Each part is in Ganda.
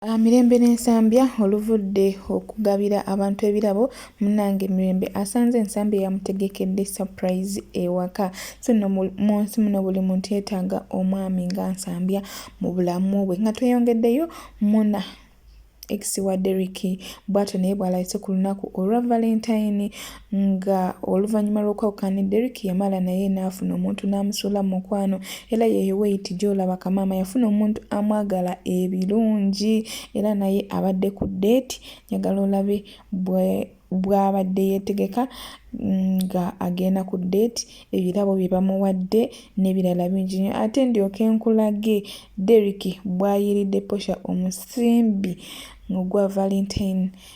Ah, mirembe n'ensambya oluvudde okugabira abantu ebirabo munange mirembe asanze ensambya yamutegekedde surprise ewaka so no mu nsi muno buli muntu yetaaga omwami nga nsambya mu bulamu bwe nga tweyongeddeyo muna ex wa deriki bwatyo naye bw'alayise ku lunaku olwa valentine nga oluvannyuma lw'okwawukana ne Derrick yamala naye n'afuna omuntu n'amusuula mu mukwano era yeeyo weyiti gy'olaba kamaama yafuna omuntu amwagala ebirungi era naye abadde ku ddeeti njagala olabe bwe bw'abadde yeetegeka nga agenda ku ddeeti ebirabo bye bamuwadde n'ebirala bingi nnyo ate ndyoke nkulage Derrick bw'ayiiridde Portia omusimbi ogwa Valentine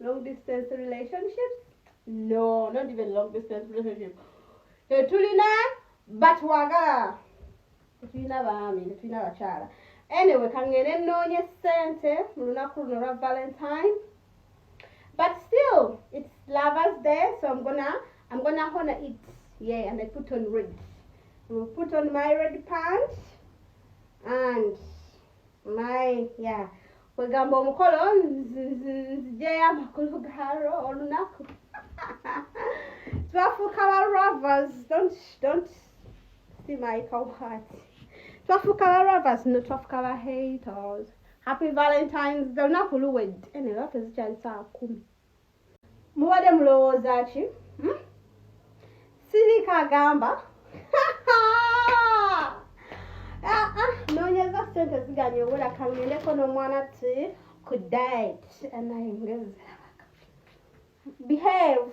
long distance relationships no not even long distance relationship tetulina batwagala tetulina baami tetulina bakyala anyway kangende noonye sente mu lunaku luno lwa valentine but still it's lovers day so i'm gonna i'm gonna honor it yeah and i put on red will put on my red pants and my yeah kwegamba omukolo nzijeyo amakulu galo olunaku twafuuka ba ravers don't, don't see my cowheart twafuuka ba ravers no twafuuka ba haters happy valentines olunaku luwedde eneyo ate zikyali saa kumi mubadde mulowooza ki hmm? sirika agamba ah, ah, nonyeza sente ziganye obula kangendeko n'omwana ti ku diet anayengezerabaka behave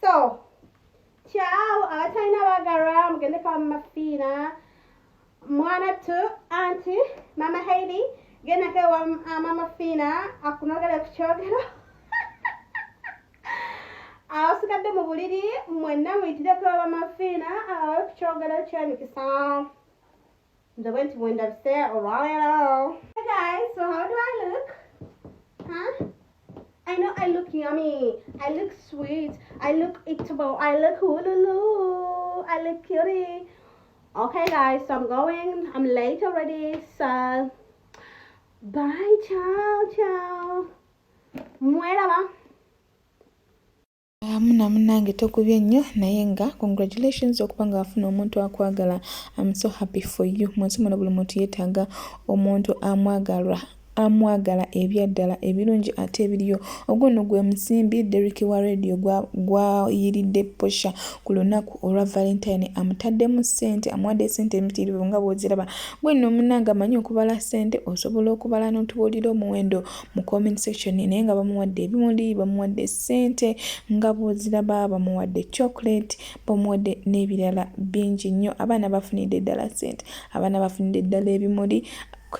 so kyawo abatalina bagalwa mugende kwa mama fiina mwana tu anti mama haidi gendako ewa ah, mama fiina akunogere ku kyogero abasigadde mu buliri mwenna muyitireko bamafiina abawe ku kyogero kyemikisa Nze bwe nti bwendabise olwaleero. Hey guys, so how do I look? Huh? I know I look yummy. I look sweet. I look eatable. I look hululu. I look cutie. Okay guys, so I'm going. I'm late already. So bye. Ciao, ciao. Muera va. muna munange tokubye nnyo naye nga congratulations okuba nga wafuna omuntu akwagala am so happy for you munsi muno buli muntu yetaaga omuntu amwagalwa amwagala ebyaddala ebirungi ate ebiriyo ogwo no gwe musimbi derik wa radio gwayiridde gwa posha ku lunaku olwa valentine amutaddemu sente amuwadde sente emitiirivu nga bwoziraba gwenno omunanga amanyi okubala sente osobola okubala notubuulira omuwendo mu comment section naye nga bamuwadde ebimundi bamuwadde ssente nga bwoziraba bamuwadde chocolate bamuwadde n'ebirala bingi nnyo abaana bafunidde ddala ssente abaana bafunidde ddala ebimuli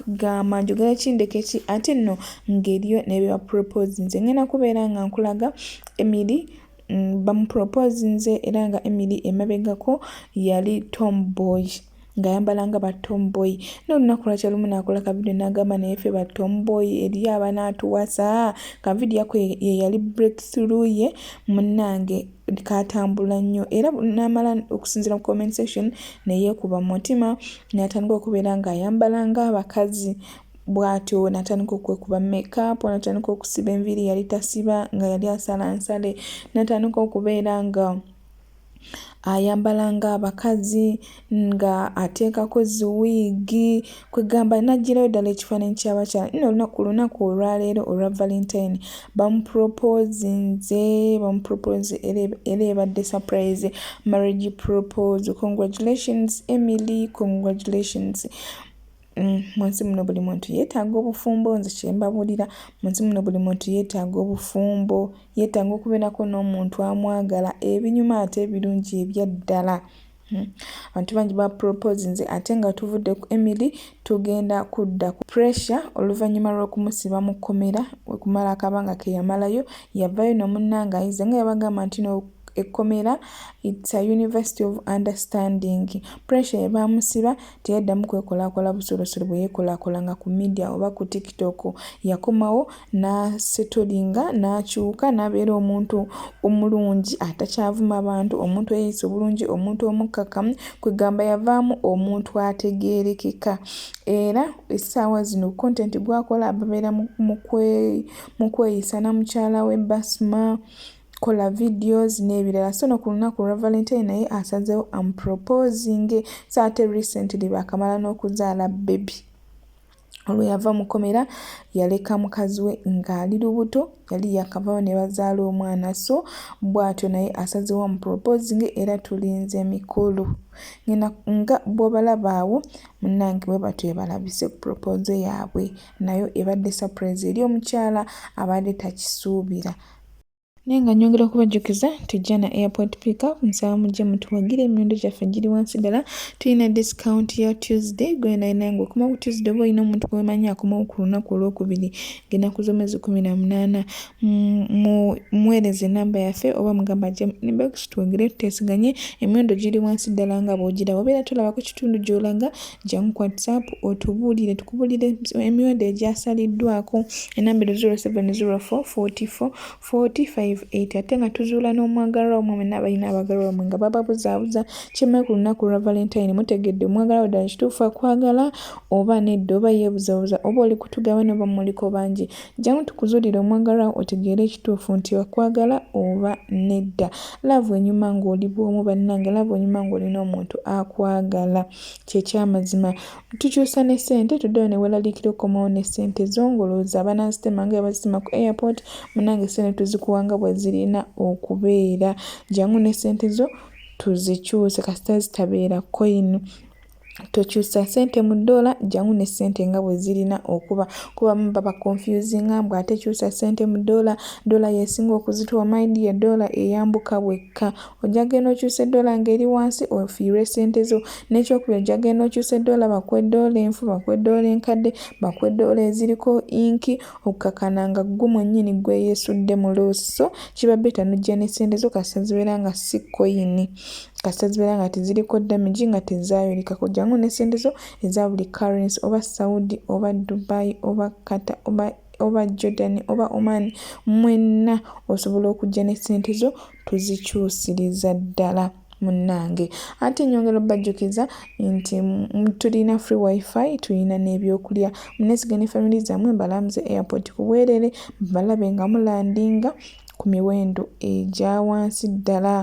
gamba njogera kindeke ki ate nno ng'eriyo nebyebapropose nze ngenda kubeera nga nkulaga emiri mm, bamupropose nze era nga emiri emabegako yali tomboy ng'ayambala nga ba tomboy naye olunaku lwakya lumu naakola ka vidiyo n'agamba naye ffe ba tomboy eriyo abanaatuwasa ka vidiyo ako ye yali break through ye munnange katambula nnyo era n'amala okusinzira mu comment section ne yeekuba mu mutima n'atandika okubeera ng'ayambala ng'abakazi bw'atyo n'atandika okwekuba makeup n'atandika okusiba enviiri yali tasiba nga yali asala nsale n'atandika okubeera nga ayambala nga abakazi nga ateekako ziwiigi kwegamba najjirayo ddala ekifaananyi kyabakyala nno olunaku lunaku olwaleero olwa valentine bamupropozinze bamupropoze era ebadde surprise marriage propose congratulations emily congratulations Mm, munsi muno buli muntu yetaaga obufumbo nze kyembabulira munsi muno buli muntu yetaaga obufumbo yetaaga okubeerako n'omuntu amwagala ebinyuma ate ebirungi ebyaddala mm. abantu bangi ba propose nze ate nga tuvudde ku emily tugenda kudda ku pressure oluvannyuma lw'okumusiba mu kkomera wekumala akabanga keyamalayo yavayo nomunnanga ayize nga yabagamba nti no ekkomera its a university of understanding pressure ebaamusiba teyaddamu kwekolaakola busolosolo bwe yeekolaakolanga ku midiya oba ku tiktok yakomawo n'asetolinga n'akyuka n'abeera omuntu omulungi atakyavuma bantu omuntu eyeeyisa obulungi omuntu omukkakkamu kwegamba yavaamu omuntu ategeerekeka era essaawa zino kontenti gwakola babeera mu kweyisa na mukyala we basma kola videos n'ebirala so no ku lunaku olwa valentine naye asazeewo amproposinge so ate recently baakamala n'okuzaala bebi olwe yava mu komera yaleka mukazi we ng'ali lubuto yali yakavawo ne bazaala omwana so bw'atyo naye asazeewo amproposinge era tulinze mikolo ngena nga bw'obalabaawo munnange bwe batyo ebalabise ku propose yaabwe nayo ebadde surprise eri omukyala abadde takisuubira naye nga nyongera okubajjukiza nti jana airport pickup nsaba mujje mutuwagire emiwendo gyaffe giri wansi ddala tulina discount ya tuesday gwenainanga okuma ku tuesday oba olina omuntu gwemanyi akomawo ku lunaku olwokubiri ngenaku zomwezi kumi na munaana muweereza enamba yaffe oba mugamba ajje inbox twogere tutesiganye emiwendo giri wansi ddala nga bwogiraba obeera tolaba ku kitundu gyolaga Jangu ku WhatsApp otubuulire tukubuulire emiwendo egyasaliddwako enambiro 0704444580 ate nga tuzuula n'omwagalwa omwe mwenna abalina abagalwa omwe nga bababuzaabuza kimale ku lunaku lwa valentine mutegedde omwagalwa wo ddala kituufu akwagala oba nedda oba yeebuzabuza oba oli kutugaba noba muliko bangi jjangu tukuzuulire omwagalwa otegeere ekituufu nti akwagala oba nedda laavu enyuma ng'oli bwomu bannange laavu enyuma ng'olina omuntu akwagala kyekyamazima tukyusa ne sente tudayo newelalikira okomawo ne sente zongoloza banasitema nga ebasitema ku airport munange sente tuzikuwanga bwezirina okubeera jangu ne sente zo tuzikyuse kasita zitabeera coin tokyusa sente mu dola jangu ne sente nga bwezirina okuba kuba baba confusinga mbu ate kyusa sente mu dola dola yesinga okuzituwa maidi ye dola eyambuka wekka ojja genda okyusa eddoola ng'eri wansi ofiirwe ssente zo n'ekyokubiri ojja genda okyusa eddoola bakuwa eddoola enfu bakuwa eddoola enkadde bakuwa eddoola eziriko inki okukakana nga ggwe mwennyini ggwe yeesudde mu loosi so kiba beta nojja ne ssente zo kasita zibeera nga si koyini kasita zibeera nga teziriko damagi nga tezaayolekako jangu ne ssente zo eza buli currency oba saudi oba dubai oba kata oba oba jordan oba oman mwenna osobola okujja ne ssente zo tuzikyusiriza ddala munnange ate nyongera obajjukiza nti tulina free wifi tulina n'ebyokulya munesige ne family zammwe mbalamuze airport ku bwerere balabe nga mulandinga ku miwendo egya wansi ddala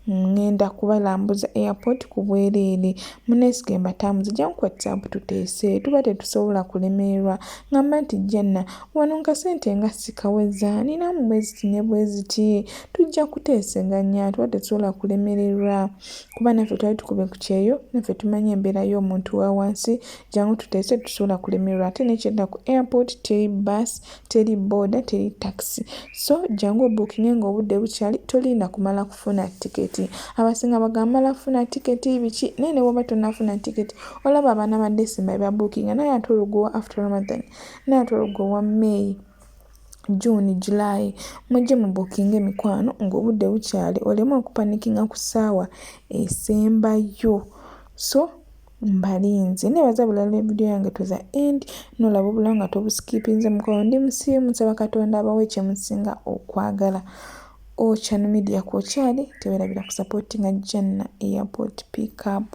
ŋŋenda kubalambuza airport ku bwereere munesige mbatambuze jangu ku whatsapp tuteese tuba tetusobola kulemererwa ŋamba nti janna Wano nga sente nga sikaweza nina mu bweziti ne bweziti tujja kuteeseganya tuba tetusobola kulemererwa kuba naffe twali tukube ku kyeyo naffe tumanyi embeera y'omuntu wa wansi jangu tuteese tusobola kulemererwa ate nekyenda ku airport teri bus teri boda teri taxi so jangu obukinge nga obudde bukyali tolinda kumala kufuna tiketi abasinga bagamala kufuna tiketi biki naye ne woba tonafuna tiketi olaba abaana ba december bebabukinga naye ate olugowa after ramadan naye ate olwo gwe owa may june july mujje mu bookinga emikwano ngaobudde bukyali oleme okupanikinga ku saawa esembayo so mbalinze nebaza bulala evidiyo yange tuza end nolaba obulawo nga tobusikipinze mukwano ndi musiimu nsaba katonda abawe kyemusinga okwagala ochan media kwokyali tewerabira kusapotinga janna airport pickup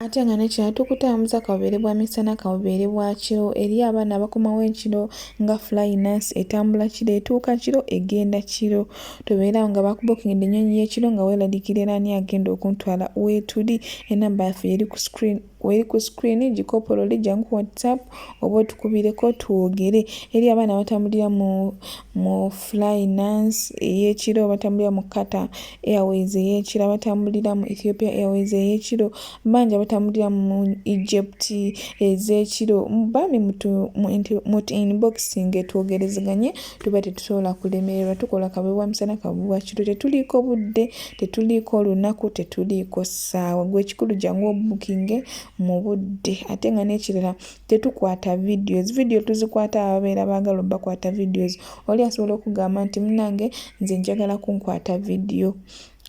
ate nga nekino tukutambuza kabubeere bwa misana kabubeere bwa kiro eri abaana abakomawo ekiro nga flynas etambula kiro etuuka kiro egenda kiro tobeerawo nga bakubokingidde ennyonyi yekiro nga weeladikira era ani agenda okuntwala weetuli enamba yaffe eri ku screen weri ku screen gikopolole jangu ku whatsapp oba otukubireko twogere eri abaana batambulira mu flynas eyekiro batambulira mu kata Airways ey'ekiro abatambulira mu Ethiopia Airways ey'ekiro bangi abatambulira mu Egypt ez'ekiro bambi mutu inboxinge twogerezeganye tuba tetusobola kulemererwa tukola kabwebwa misana kabwebwa kiro tetuliiko budde tetuliiko olunaku tetuliiko ssaawa gwe ekikulu jangu obukinge mu budde ate nga n'ekirala tetukwata videos video tuzikwata ababeera baagala obakwata videos oli asobola okugamba nti munange nze njagala kunkwata video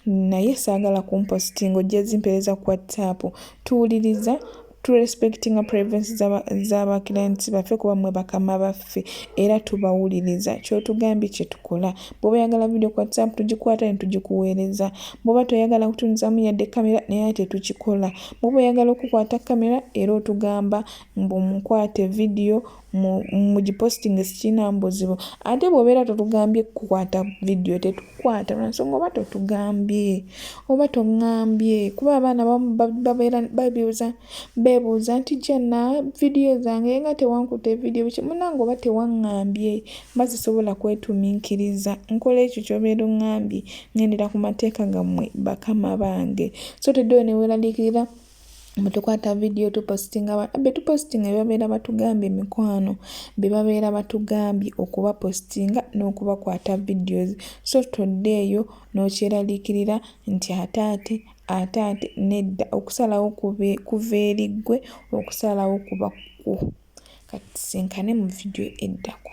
naye saagala kumpositinga ojja zimpereza ku whatsapp tuwuliriza turespectinga privacy z'abaclients baffe kuba mwe bakama baffe era tubawuliriza kyotugambye kyetukola bwoba oyagala video ku whatsapp tugikwata ne tugikuweereza bwoba toyagala kutunzamu yadde kamera naye tetukikola bwoba oyagala okukwata kamera era otugamba mbu mukwate vidiyo mugipostinge sikirina mbuzibu ate bwobeera totugambye kukwata vidiyo tetukwata lwansonga oba totugambye oba tongambye kuba abaana bamu babeera babuuza bebuuza nti jana vidiyo zange nga tewankuta evidiyo biki munange oba tewangambye mba sisobola kwetuminkiriza nkola ekyo kyobeera ongambye ngendera ku mateeka gammwe bakama bange so teddeyo neweeraliikirira mwe tukwata vidiyo tupositinga abantu be tupositinga bebabeera batugambye mikwano bebabeera batugambye okubapositinga n'okubakwata videos so todde eyo n'okyeraliikirira nti ate ate ate ate nedda okusalawo kuva eri ggwe okusalawo kuba kwo kati sinkane mu vidiyo eddako